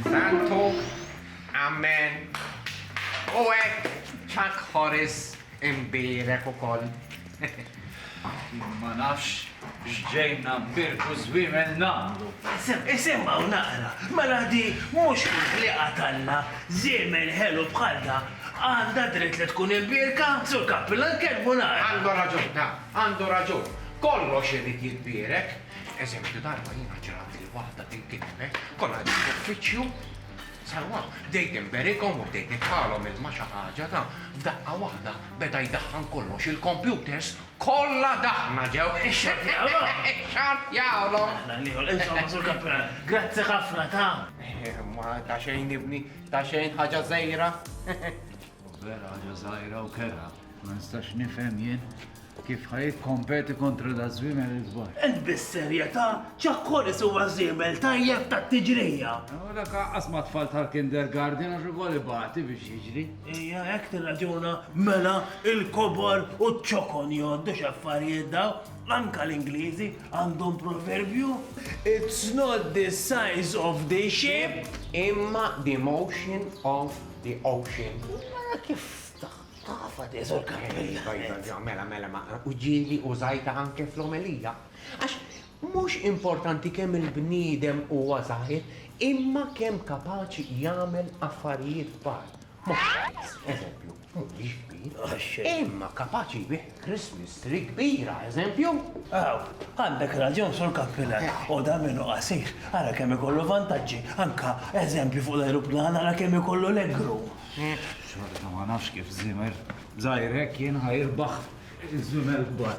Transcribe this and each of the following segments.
Santu, Amen. U hekk Chuck Horris imbierek ukoll. Jien ma nafx x'ġejna mbierku żwiemel nagħmlu. Isimha u naqra, mela di mhux kull ħliqa t'Alla, żiemel ħelu bħal da għandha dritt li tkun imbierka? Sur Kappillan tkellmu naqra. Għandu raġun, naf, għandu raġun. Kollox irid jitbierek. Eżempju, darba jiena ġrabli Waħda tinkitbet, kollha ġew f'uffiċċju. Sewwa, bdejt inberikhom u bdejt nitfagħalhom ilma xi ħaġa ta'. F'daqqa waħda beda jdaħħan kollox, il-kompjuters kollha daħħna ġew. Ixxorrjawlhom! Ixxorrjawlhom! Aħna nieħu, insomma, Sur Kappural, grazzi ħafna ta'. Imma ta' xejn ibni, ta' xejn, ħaġa żgħira. Vera ħaġa żgħira u kerha. Ma nistax nifhem jien kif ħaj kompeti kontra da żwiemel il-kbar. Int bis-serjetà ċakkoris huwa żiemel tajjeb tat-tiġrija. U dak aqqas ma' tfal tal-kindergarten għax ukoll ibati biex jiġri. Ija hekk tirraġuna mela il-kobor u ċ-ċokon jgħoddu x'affarijiet daw. Anka l-Ingliżi għandhom proverbju. It's not the size of the ship imma the motion of The ocean. Mela kif tafa di zor karrella? Iva, iva, iva, mela, mela, ma u ġieli użajta anke fl-omelija. Għax mhux importanti kemm il-bniedem huwa żgħir, imma kemm kapaċi jagħmel affarijiet kbar. Mhux żgħir, eżempju, mhuwiex kbir, imma kapaċi jbigħ Christmas tree kbira, eżempju? Aw, għandek raġun, Sur Kappilan. U dan minnu qasir, ara kemm ikollu vantaġġi. Anka, eżempju, fuq l-ajruplan, ara kemm ikollu legroom. Xorta ma nafx kif żiemel żgħir hekk jien ħa jirbaħ iż-żwiemel kbar.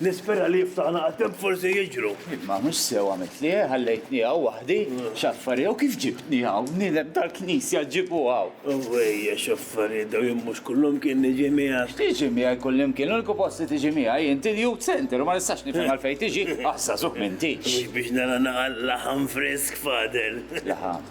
Nispera li jiftaħ naqa' temp forsi jiġru. Imma mhux sew għamitlhi, ħallejtni hawn waħdi, x'affarijiet hawn kif ġibtni hawn, bniedem tal-Knisja ġġibu hawn. Owwejja x'affarijiet dawn jien mhux kullimkien niġi miegħek. X'tiġi miegħi kullimkien, l-uniku post li tiġi miegħi int il-youth centre u ma nistax nifhem għalfejn tiġi, ah żagħżugħ m'intix. Mhux biex nara naqa' laħam frisk fadel. Laħam?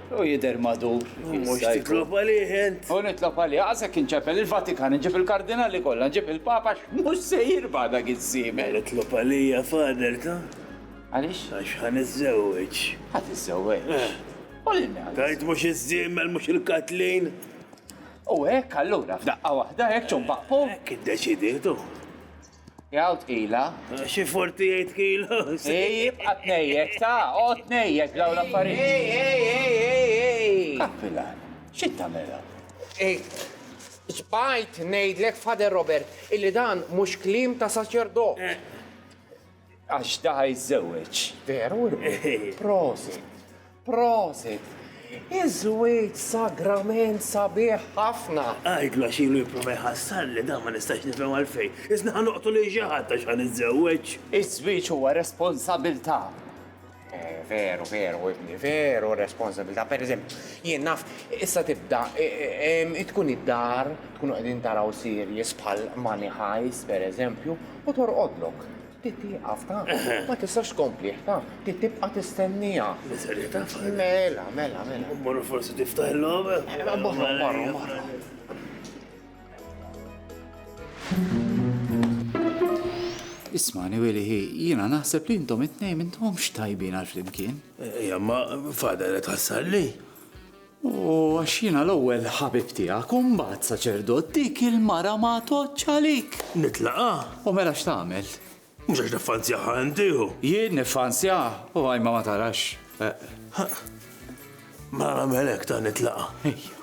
U jidher madur. Mhux titlob għalih int. U nitlob għalih, għasek inċepel il-Vatikan, nġib il-kardinali kollha, nġib il-Papa, mhux se jirba' dak iż-żiemel. Itlob għalija fader ta? Għaliex? Għax ħa niżżewweġ. Ħa tiżżewweġ. Eh. U lil min? Tajt mhux iż-żiemel mhux il-katlin. U hekk allura f'daqqa waħda hekk ċumpaqpu. Hekk iddeċiditu. Jgħu tqila. Xi forti jgħid kilu. Ej, jibqa' tnejjek ta' o tnejjek daw l-affarijiet. Ej, ej, ej, ej, ej. Kappila, xi tagħmilha? Ej, Sbajt ngħidlek Father Robert illi dan mhux kliem ta' saċerdot. Għax da ħajżżewweġ. Veru imbagħad. Prosit. Prosit. Iż-żwieġ sagrament sabiħ ħafna. Għidlu għax ilu jipprova jħassarli dan ma nistax nifhem għalfejn. Isna ħa noqtol lil xi ħadd għax ħa niżżewweġ. Iż-żwieġ huwa responsabilità. Veru, veru, ibni, veru, responsabilta. Per eżempju, jien naf, issa tibda, tkun id-dar, tkun għedin taraw sirjes bħal Money Heist, per eżempju, u torqodlok. Titti għafta, ma tistax kompli għafta, titti bqa tistennija. Miserita, Mela, mela, mela. Morru forsi tiftaħ l-lom? Morru, morru, morru. Ismani, Willi, jiena naħseb li intom it-tnejn m'intomx tajbin għal flimkien. Ejja, ma fada li tħassar li. U għax jiena l-ewwel ħabib tiegħek u mbagħad saċerdot dik il-mara ma toċċalik. Nitlaqa? U mela x'tagħmel? Mhux għax niffanzjaha inti u. Jien niffanzjaha u Għajma ma tarax. Mela nagħmel hekk ta' nitlaqa'. Ejja.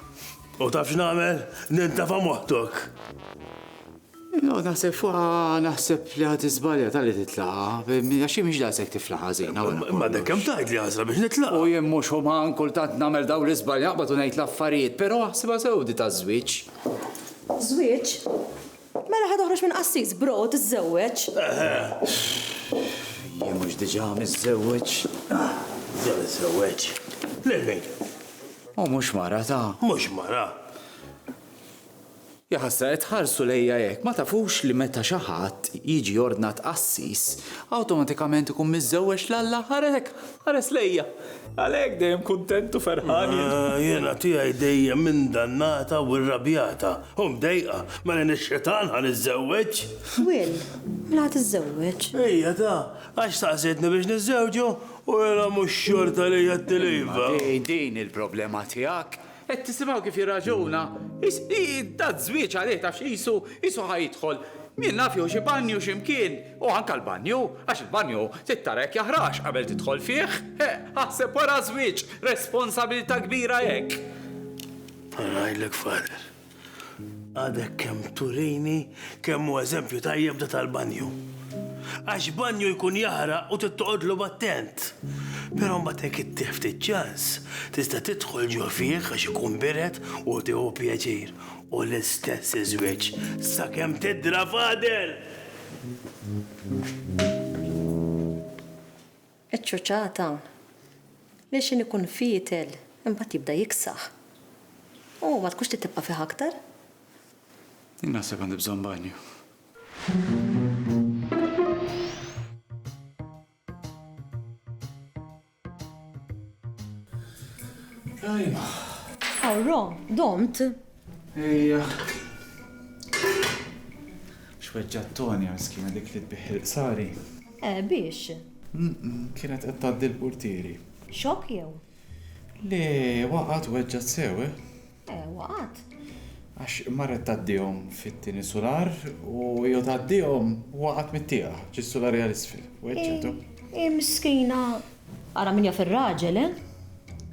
U taf x'nagħmel? Nintefa' moħtok. Inqgħod naħseb fuqha naħseb li ħadd iżbalja talli titlaqa', għax hi mhix daqshekk tifla ħażina wara kollox. Imma dekk kemm tgħid li għażla biex nitlaqa'. U jien mhux uman kultant nagħmel dawn l-iżbalji naqbad u ngħid l-affarijiet, però aħsibha sew di taż-żwieġ. Żwieġ? Mela ħa toħroġ minn qassis, bro, u tiżżewweġ. Jien mhux diġà miżżewweġ? Diġà miżżewweġ. Lil min? U mhux mara ta'. Mhux mara. Jaħasra qed tħarsu lejja hekk, ma tafux li meta xi ħadd jiġi ordnat qassis, awtomatikament ikun miżżewweġ l-Alla? Ara hekk! Ħares lejja. Għalhekk dejjem kuntent u ferħan jien. Jiena tiegħi dejjem indannata u irrabjata u mdejqa. Mela jien ix-xitan ħa niżżewweġ? Will, mela ħa tiżżewweġ? Ejja ta, għax staqsejtni biex niżżewġu u mela mhux xorta li għedtilha iva. Imma din hi l-problema tiegħek. Qed tisimgħu kif jirraġuna? Is, i, da żwieġ għalih tafx qisu, qisu ħa jidħol, min naf jew xi banju xi mkien, u anke l-banju, għax il-banju trid tara jekk jaħrax qabel tidħol fih. E, aħseb wara żwieġ, responsabilità kbira hekk! Ħa ngħidlek, Father. Għadek kemm turini kemm hu eżempju tajjeb da tal-banju. Għax banju jkun jaħraq u tittoqodlu b'attent. Però mbagħad hekk ittieħ ftit ċans, tista' tidħol ġo fih għax ikun bired u tieħu pjaċir u l-istess iż-żwieġ sakemm tidra fadel! Iċ-ċoċata lil xejn ikun fietel imbagħad jibda jiksaħ u ma tkunx trid tibqa' fih aktar. Jien naħseb għandi bżonn banju. Ajma. Aww Rom, domt? Ejja. Xweġġa Tony għal skina dik li tbiħ il-qsari. Eh, biex? Kienet qed tgħaddi l-portieri. Xok jew? Le, waqgħet weġġat sew, eh? Eh, waqgħet. Għax marret tgħaddihom fit-tieni sular u jew tgħaddihom waqgħet mit-tieqa, ġis-sular għal isfel. Weġġetu. Eh, eh, miskina Ara min jaf ir-raġel, eh?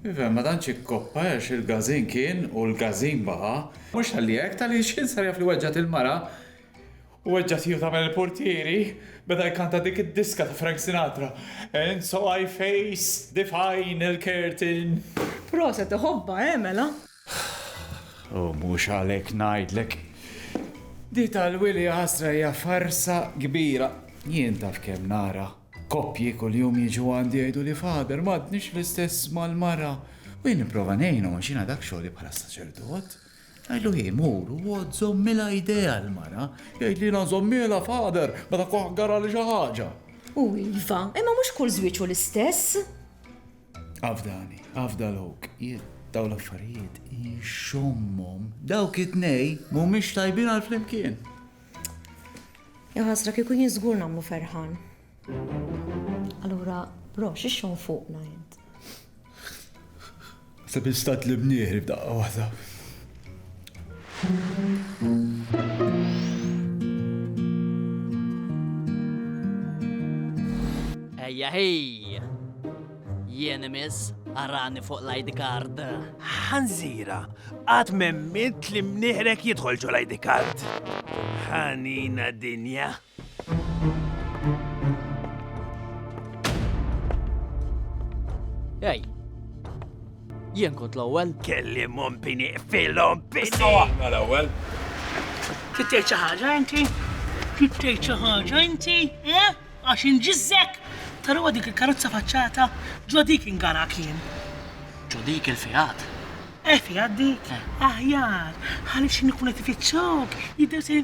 Iva, imma dan xi koppa għax il-gażin kien u l-gażin baqa'. Mhux talli hekk, talli x'kien sar jaf li weġġgħet il-mara u weġġgħet hi u tagħmel il-purtieri, beda jkanta dik id-diska ta' Frank Sinatra, And so I faced the final curtain. Proset, iħobbha, eh, mela? U mhux għalhekk ngħidlek. Di tal-Wili Għasra hija farsa kbira. Jien taf kemm nara koppji kuljum jiġu għandi jgħiduli Father, m'għadniex l-istess mal-mara. U jien nipprova ngħinhom għax jiena dak xogħli bħala saċerdot. Ngħidlu hi mur u għodd żommilha idejha l-mara. Jgħidli jiena nżommielha Father meta kuħ garali xi ħaġa. U iva, imma mhux kull żwieġ hu l-istess. Afdani, afda l-ok, jien daw l-affarijiet inxommom. Dawk it-nej mhumiex tajbin għal flimkien. Jaħasra kieku jien żgur nagħmlu ferħan. Allura, bro, xixxon fuqna jent. Sebi stat li bnieħri b'daqqa waħda. Ejja hi! Jien imiss arani fuq l-ID card. Ħanżira, għad memmilt li mniħrek jidħol ġol ID card. Ħanina dinja. Ej, jien kont l-ewwel. Kelli mom bini filhom bini. Sawaħna l-ewwel. Tittej xi ħaġa inti? Tittej xi ħaġa inti? Eh? Għax inġiżżek? Tarawa dik il-karozza faċċata ġo dik ingara kien. Ġo dik il-fiat. Eh, fiat dik? Eh. Aħjar, ħalli xi nikun qed ifittxok, jidher se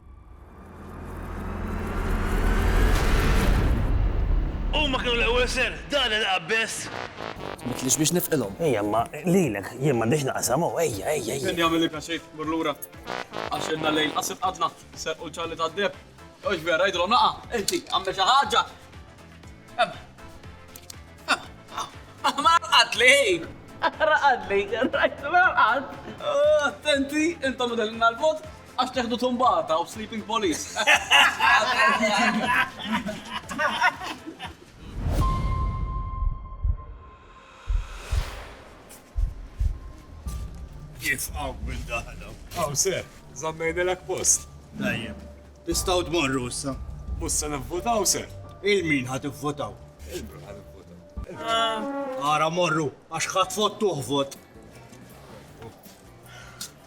Huma kienu l-ewwel ser, dan il-qabbes! Tmitlix biex nifqilhom. Ejja, imma lilek jien m'għandix naqsam hawn, ejja, ejja, ejja. Min jagħmilli pjaċir, mur lura. Għax ilna lejl qasir qgħadna, serqu l-ċalli tad-deheb. Hux vera, għidilhom naqa', inti, agħmel xi ħaġa! Ema. Ema. Ma raqadli! Raqadli, raqad! Attenti, intom idellilna l-vot, Għax teħdu tumbata u sleeping police. Kif għaw minn daħna? Għaw ser, zammejna l post. Dajjem, tistaw dmorru issa. Mussa nivvotaw ser. Il-min ħat votaw? Il-min ħat votaw. Għara morru, għax ħat fottuħ vot.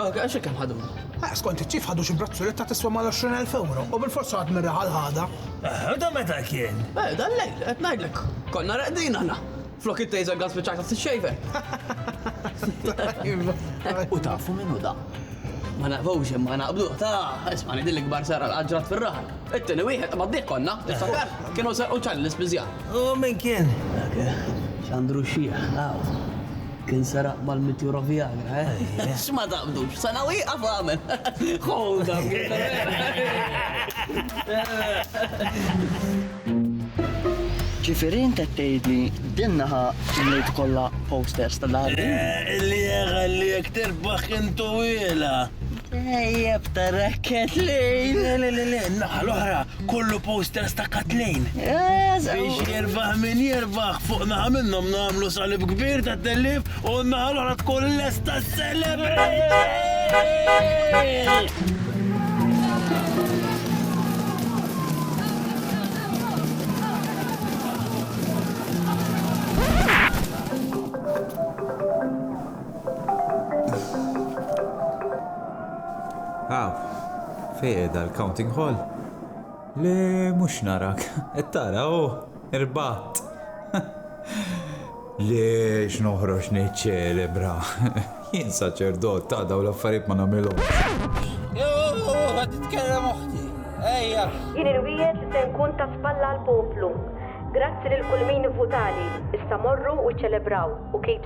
Għax hekk hemm ħaduna. Eh, skont iċ-ċif ħadu xi brazzuletta tiswa mal-20,000 euro u bil-forsa għad mirraħa l-ħada. Eh, da meta kien? Eh, dan lejl, qed ngħidlek, konna reqdin aħna. Flok it-taser gun spiċċajta t-xejver. U tafu minnu da? Ma naqbux imma naqbdu, ta' isma' nidil l-ikbar sara l-ħagġrat fil-raħal. It-tini wieħed ma d-dik konna, tiftakar, kienu sarqu ċalli l-ispizja. U minn kien? Xandru xieħ, Kien seraq mal-mitjura Viagra, eh? X'ma taqbdux, sena u jieqaf għamel. Ħoda. Ġifieri int qed tgħidli din naħa mliet kollha posters ta' Darwin? Li jagħlli jekk tirbaħ kien tuwilha. Ejjeb ta' rakket lejn. Le, le, le, le, naħa l-oħra, kollu posters ta' Katlejn. Biex jirbaħ min jirbaħ, fuq naħa minnhom nagħmlu salib kbir ta' tellif u naħa l-oħra tkun lesta celebrate! Aw, fejn qiegħda l-counting hall? Le, mhux narak. Qed tara, hu, irbaħt. Le, x'noħroġ niċċelebra. Jien saċerdot ta' dawn l-affarijiet ma nagħmilhomx. Qed titkellem oħti. Ejja. Jien irwiegħed li se nkun ta' spalla għall-poplu. Grazzi lil kull min ivvutali. Issa morru u ċċelebraw, u keep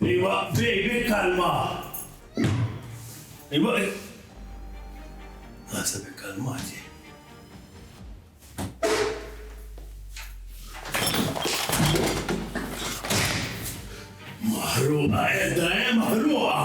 Iwa, baby, kalma! Iwa, Għasa bi kalmati. Maħruqa, edda, eh, maħruqa!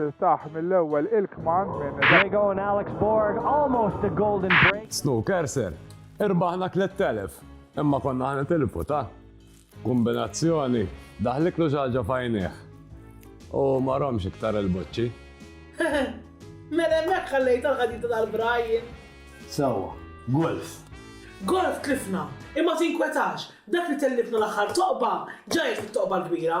Tiltaħ mill-ewwel il-kman minn They go and Alex Borg almost a golden break. Snooker sir, irbaħna 3000 imma konna ħana tilfu ta' Kombinazzjoni, daħlitlu xi ħaġa f'għajnejh u ma romx iktar il-boċċi. Mela hemmhekk ħallejtha l-ħadita tal-Brian. Sewwa, golf. Golf tlifna, imma tinkwetax, dak li tellifna l-aħħar toqba, ġajjed fit-toqba l-kbira.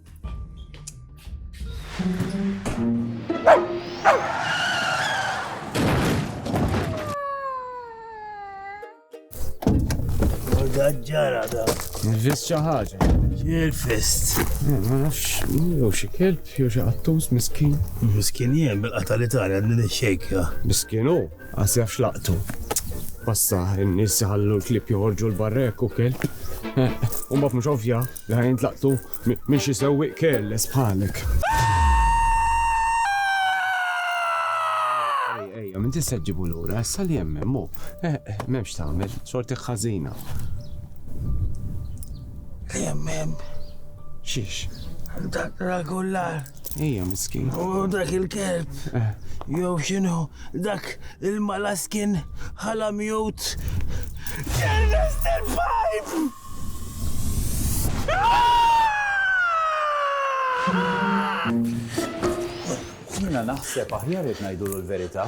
ġara da. Nifis ċaħġa. Jirfist. Eh, ma nafx, jew xi kelb, jew xi qattus miskin. Miskin jien bil-qata li tara din ix-xejka. Miskinu, għas jafx laqtu. Passa, n-nies jħallu l-klib joħorġu l-barrek u kelb. Eh, u mbagħad mhux ovvja, Li ħa jintlaqtu minn xi sewwieq careless bħalek. Ejja, minn tista' ġġibu lura, issa li hemm hemm hu. Eh, eh, m'hemmx tagħmel, sorti ħażina. Li hemm hemm. Xiex? Dak rakullar. Ejja, miskin. U dak il-kelb. Eh. Jew xinu, dak il-malaskin ħala mjut. Ernest il-pipe! Jiena naħseb aħjar jekk ngħidulu l-verità.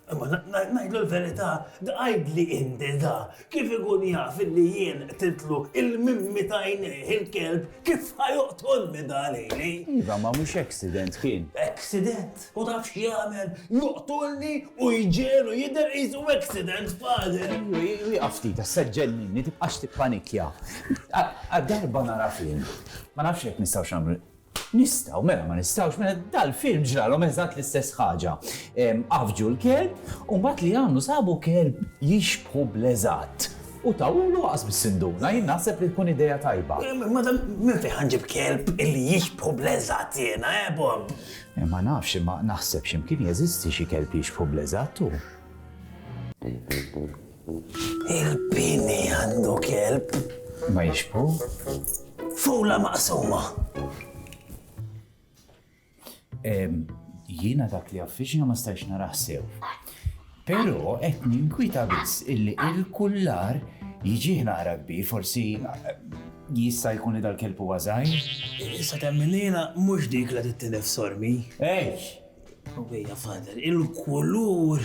Imma ngħidlu l-verità, tqigħidli inti da, kif ikun jaf illi jien qtitlu il-mimmi ta' għajnejh il-kelb kif ħa joqtolni da lili? Iva, ma mhux accident kien? Accident? U taf x'jagħmel? Joqtolni u jġegħlu jidher qisu accident, Father! Wieqaf ftit, issa ġġenninni, tibqax tippanikja. Għal darba nara film. Ma nafx jekk nistgħux nagħmlu. Nistgħu, mela ma nistgħux, mela dal-film ġralhom eżatt l-istess ħaġa. Għaffġu l-kelb u mbagħad li għamlu sabu kelb jixbħu bl-eżatt. U tawwlu għas bis-sinduna, jien naħseb li tkun idea tajba. Madam, minn fejn ħa nġib kelb illi jixbħu bl-eżatt jiena, eh, Bob? Ma nafx imma naħseb x'imkien jeżisti xi kelb jixbħu bl-eżatt hu. Il-bini għandu kelb. Ma jixbħu? Fula maqsuma. Jiena dak li affiċna ma stajx naraħ sew. Pero qed ninkwieta biss illi il-kullar jiġih naqra kbir, forsi jista' jkun li dal-kelb huwa żgħir? Issa temm il-lejla mhux dik la tittilef sormi. Ejj! Ħwejja Father, il-kulur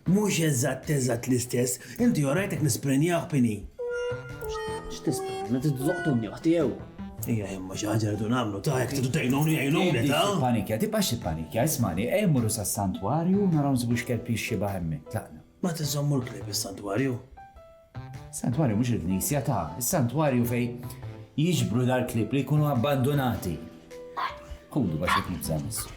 mhux eżatt eżatt l-istess, inti orajtek nisprenjah b'ini? X'tisprenja? Titloqtuni oħti jew? Ejja, imma xi ħaġa rridu nagħmlu ta' jekk tridu tgħinuni għinuni ta'. Tippanikja, tibqax tippanikja, ismani, ejja mmorru sas-santwarju u naraw nsibu x'kelb jixxibaħ hemmhekk, tlaqna. Ma tiżommu l-klieb is-santwarju? Santwarju mhux il-knisja ta', is-santwarju fejn jiġbru dal-klieb li jkunu abbandunati. Ħudu bax qed nibża'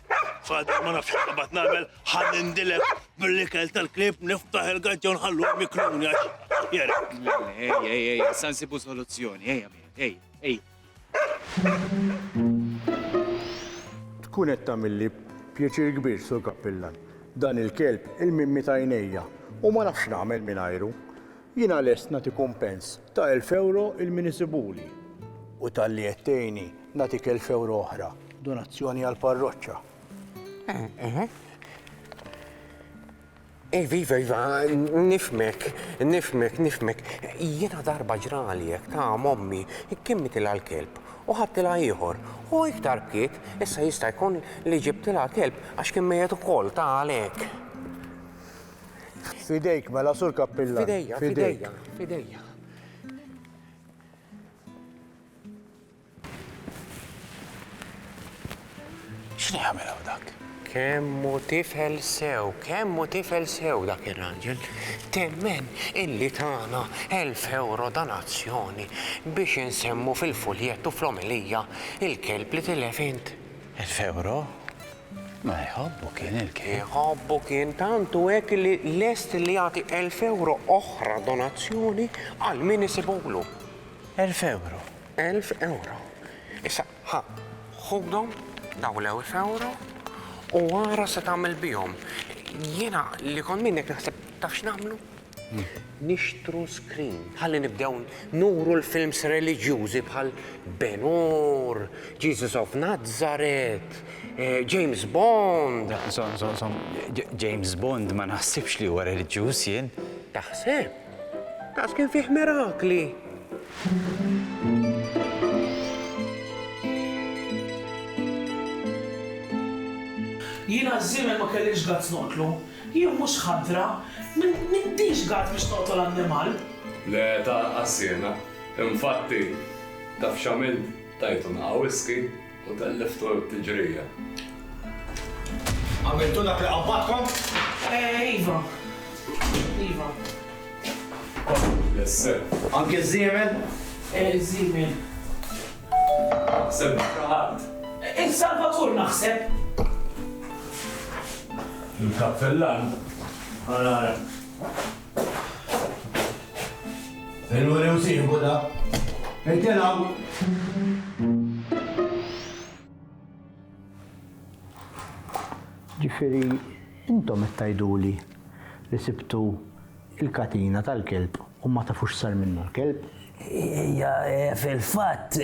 Father, ma nafx x'qabad nagħmel, ħa nindilek bil-ikel tal-klieb niftaħ il-gaġġa u nħallu mikluni għax jeri. Ej, ej, ej, sa nsibu soluzzjoni, ej, ej, ej. Tkun qed tagħmilli pjaċir kbir sur kappillan. Dan il-kelb il-mimmi ta' għajnejja u ma nafx nagħmel mingħajru. Jiena lest nagħti kumpens ta' elf ewro il-min isibuli u talli qed tgħinni nagħtik elf ewro oħra, donazzjoni għall-parroċċa. Iva, iva, iva, nifhmek, nifhmek, nifhmek. Jiena darba ġrali hekk ta' m'ommi kimmitilha l-kelb u ħadtilha ieħor u iktar bkiet, issa jista' jkun li ġibtilha kelb għax kien mejjet ukoll, ta' għalhekk. Fidejk mela sur kappillan. Fidejja, fidejja, fidejja. X'ni għamel hawn dak? Kemmu tifel sew, kemmu tifel sew dak ir-raġel. Temmen illi tagħna 1000 euro donazzjoni biex insemmu fil-fuljettu fl-omelija il-kelb li tilef int. 1000 euro? Ma jħobbu kien il-kejl. Jħobbu kien tant u hekk li lest li jagħti elf ewro oħra donazzjoni għal min isibulu. Elf ewro? Elf ewro. Issa, ħa, ħudhom, dawn l-elf ewro, u ara se tagħmel bihom. Jiena li kont minnek naħseb taf x'nagħmlu? Nixtru screen ħalli nibdew nuru l-films reliġjużi bħal Ben Hur, Jesus of Nazareth, James Bond. Żomm, żomm, żomm, James Bond ma naħsibx li huwa reliġjuż jien. Taħseb? Daqs kien fih mirakli. Jiena ż-żiemel ma kellix guts noqtlu. Jien mhux ħadra, m'intix gard biex toqtol annimal. Le tarqas jiena. Infatti, taf x'għamilt? Tajtu naqa' whisky u telliftu t-tiġrija. Għamiltu dak li qabbadkom? Iva. Iva. Kont ħbiss, eh? Anki ż-żiemel? Eh, ż-żiemel. Semmejtha ħadd. Il-Salvatur naħseb. Il-Kappellan? Ħa nara. Il-Wuri u sieħbu da. Jiġifieri intom qed tgħiduli li sibtu Il-katina tal-kelb u ma tafu x'sar minnha l-kelb. Hija hi fil-fatt.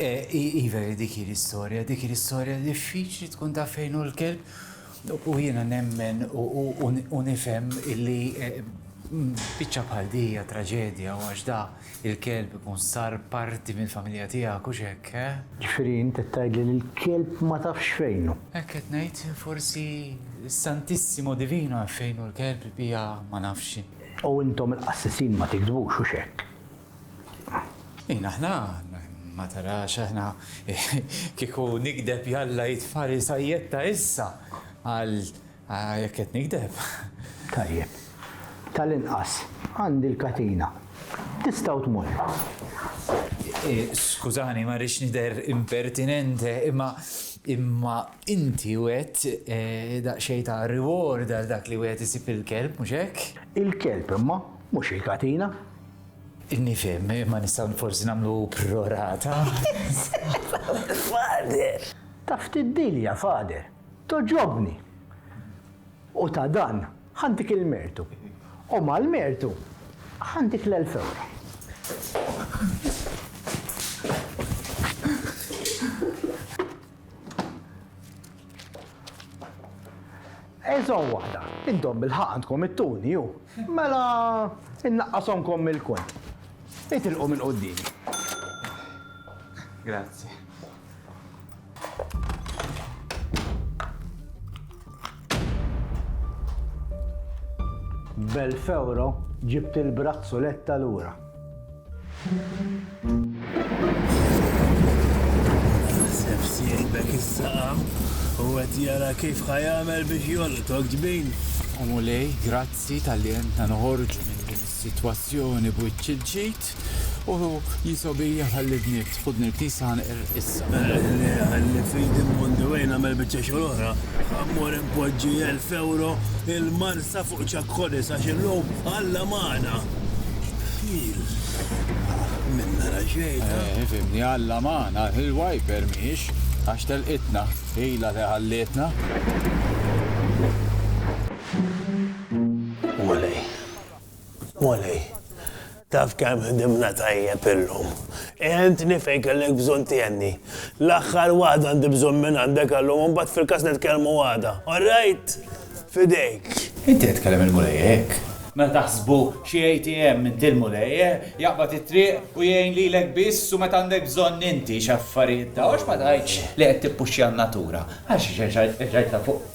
Hi veri dik hi l-istorja, dik hi l-istorja diffiċli tkun taf fejn hu l-kelb u jiena nemmen u nifhem illi biċċa bħal di hija traġedja u għax da Il-kelb ikun sar parti mill-familja tiegħek, hux hekk, eh? Ġifieri int qed tgħidli li l-kelb ma tafx fejn hu? Hekk qed ngħid, forsi s-Santissimo Divino jaf fejn hu l-kelb, il-bqija ma nafx. U intom il-qassisin ma tigdbux, hux hekk? Min aħna? Ma tarax aħna kieku nigdeb jalla jitfagħli sajjetta issa għal Ah, jekk qed nigdeb. Tajjeb. Tal-inqas, għandi l-katina. Tistgħu tmorru. Eh, skużani, ma rridx nidher impertinente, imma imma inti wet eh, daqsxejn ta' reward għal dak li wet isib il-kelb, mhux hekk? Il-kelb imma mhux il-katina. Nifhem, imma nistgħu forsi nagħmlu prorata. Fader! Taf tiddilja, fader. Togħġobni! U ta' dan ħa ntik il-mertu. U mal-mertu ħa ntik l-elf ewro. Eżon waħda, intom bil-ħaq għandkom it-tuni, ju. Mela, innaqqasomkom mill-kont. Itilqu minn quddimi. Grazzi. Bel-fewro ġibt il-brazzuletta lura. Sef sieħbek is-saqam u għet jara kif ħajamel biex jolqtok ġbin. U mulej, grazzi tal-li jenta noħorġu minn din is-sitwazzjoni b'wiċċ il-ġid. U jisobi ħalli bniet, ħudni l-Knisja ħanqer issa. Ħalli f'idi mmondi wejn nagħmel biċċa xogħol oħra. Ħammur inpoġġi elf ewro il-Marsa fuq Chuck Horris għax illum Alla magħna. Ħil. Min nara xejn. Eh, fimni Alla magħna, il-wiper mhix għax telqitna, ilha li ħallietna. Mulej. Molly, taf kemm ħdimna tajjeb illum. Għentni fejn kellek bżonn tiegħni. L-aħħar waħda għandi bżonn minn għandek għallum u mbagħad fil-każ nitkellmu għada. All right? F'idejk. Inti qed tkellem il-Mulej hekk? Meta taħsbu xi ATM inti l-Mulej, eh? Jaqbad it-triq u jgħin lilek biss u meta għandek bżonn inti x'affarijiet ta' u x'ma tgħidx li qed tippuxxja n-natura. Għax ġejt ta' fuq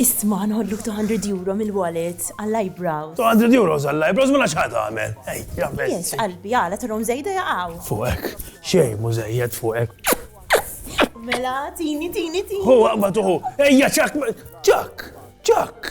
Isma' nħolluk €200 mill-wallet għall-eyebrows. €200 għall-eyebrows mela x'ħa tagħmel? Ej, ja best. Jess, qalbi, għala turhom żejda jaqgħu. Fuqek, xejn mhu żejjed fuqek. Mela, tini, tini, tini. Hu, aqbad uħu. Ejja, ċak, ċak, ċak.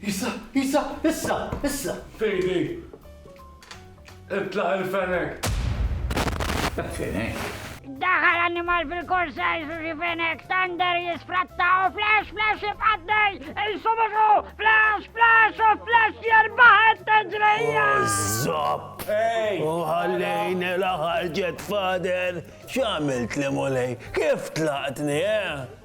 Isa, Isa, issa, issa! Fejdi! Itlaq il-fenek! Fenek? Daħal animal fil-korsa jisu xi fenek, Thunder jisfratta u flash, flash jibqaddej, il-subusu, flash, flash u flash jirbaħet t-ġrejja! Zopp! U ħallejn il-ħarġet fader, xamilt li mulej, kif tlaqtni, eh?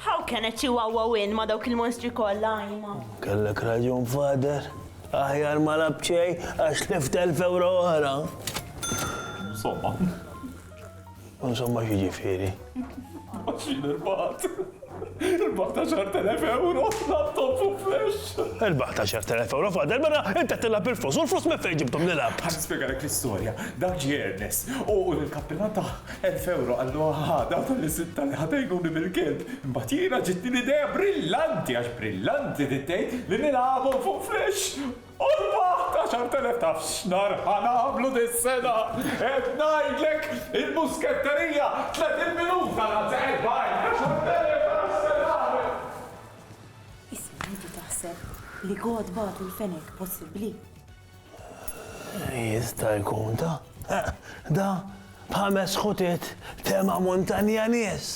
How can a chihuahua win ma dawk il-monstri kollha għajma? Kellek raġun fader, aħjar ma labċej għax lift elf euro oħra. Insomma. Insomma xi ġifieri. Għaxin il-bat. Il-bat ta' xartelef euro, laptop u flash. Il-bat ta' xartelef euro fader, mela inta tilla bil-flus, u l-flus me fejn ġibtum nilab. Għan spiegħalek l-istoria, dak ġi Ernest, u l-kappillan ta' Elf ewro, qallu, Aha, dawk tal-Iżitta li ħad għajnuni bil-kilb! Imbagħad jiena ġietni l-idea brillanti, għax brillanti din tgħid, li nilgħabhom fuq flexx! U rbaħt għaxart elef! Taf x'nar ħa nagħmlu dis-sena? Qed ngħidlek! Il-musketterija, tletin minuta, l-għadd se qed b'għajn! Għaxart elef, ara x'se nagħmel! Isma', inti taħseb li God bagħtu l-fenek possibbli? Jista' jkun da, da b'ħames ħutiet tema montanja nies.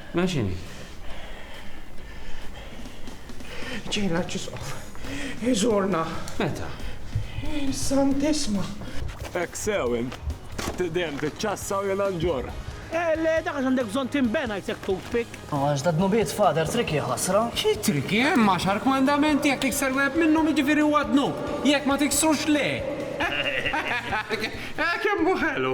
Mela x'inhi? Ġej l-Arċisqof iżurna. Meta? Santissima. Hekk sew int. Dejjem tiċċassa u jiena nġorr. Le, dak għax għandek bżonn tinbena jisek toothpick. U għax da dnubiet, Father, tricky ħasra. Xi tricky? Hemm għaxar kmandamenti, jekk tikser wieħed minnhom jiġifieri huwa dnub, jekk ma tiksrux le. Kemm hu ħelu!